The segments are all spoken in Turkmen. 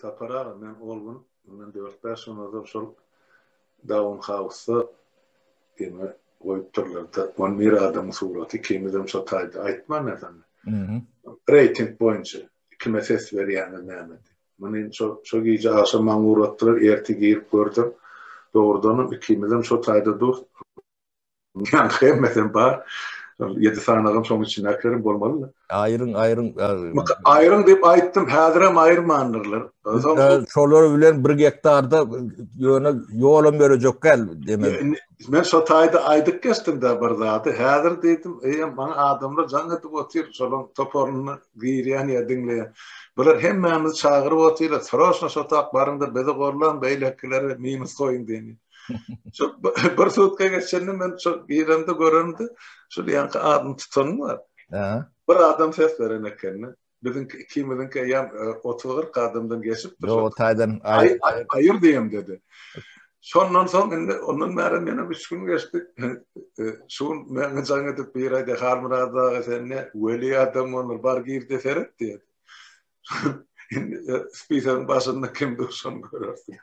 Sapar aga men ol gün mundan dört bäş gün ozal şol Daun Hausda ýene goýup durlarda on bir adamyň suraty ikimizem şo taýda aýtman näsem. Reýting boýunça kime ses berýäňiz näme diýip. Muny şo şo gije agşam maňa ugratdylar ertir girip gördüm. Dogrudanam ikimizem şo taýda dur. Ýa-da hemmesem bar. Ýedi sanagam şoň içindäkilerem bolmalydy. Aýryň, aýryň. Aýryň diýip aýtdym, häzirem aýyrmandyrlar. Şolar bilen bir gektarda ýöne ýolam berejek gel demek. Men şo taýda aýdyp geçdim-de bir zady. Häzir diýdim, eýýäm maňa adamlar jaň edip otyr, şolaryň toparyna girýän ýa diňleýän. Bular hemmämizi çagyryp otyrlar, sroşna şo tak baryň-da bizi gorlaň, beýlekileri minus goýuň diýen. Şu bir sutka geçende men şu girende görende şu ýanky adam tutan bar. Ha. Bir adam ses beren ekeni. Biziň ikimiziň ki ýan 30-40 adamdan geçip dur. Ýok, taýdan aýyr diýem dedi. Şondan soň indi ondan bäri men hem 3 gün geçdi. Şu gün men jaň edip bir aýda Halmyrat aga sen ne weli adam bolar bar gir de seret diýdi. Indi e, spiseň başynda kim dur şony görersiň.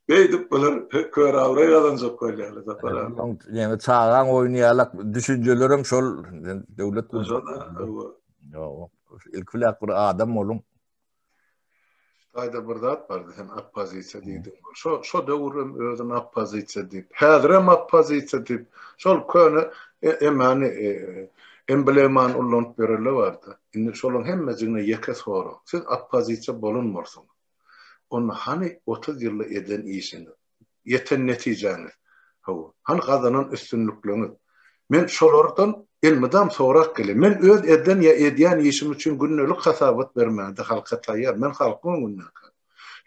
Beýdip bular kör awraý gazanjak bolýarlar sapar abi. Ýene çagaň oýnaýarlar, düşünjelerim şol döwlet gurşuna. Ýok, ilk bilen bir adam boluň. Taýda bir zat bardy, sen oppozisiýa diýdiň. Şo şo döwür hem özüni oppozisiýa diýip, häzir hem oppozisiýa diýip, şol köne e, emani e, emblemany ullanyp ýörele bardy. Indi şolaryň hemmesine ýeke sorag. Siz oppozisiýa bolan bolsaň, onda hany 30 ýylda eden işiňiz? ýeten netijäňiz, hawa, hany gazanan üstünlikleňiz? Men şolardan elmydam sorap gelýän. Men öz eden ýa edýän işim üçin gündelik hasabat bermäge-de halka taýýar. Men halkyň öňünde ekän.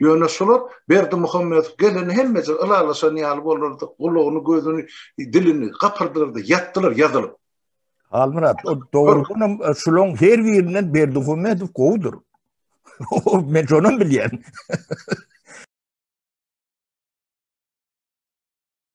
Ýöne şular Berdimuhamedow gelende hemmeje ylalaşan ýaly boldular-da, gulagyny, gözüni, dilini gapyrdylar-da ýatdylar ýazylyp. Halmyrat, o dogrudanam şularyň her birinden Berdimuhamedow gowudyr. Men şonam bilýän.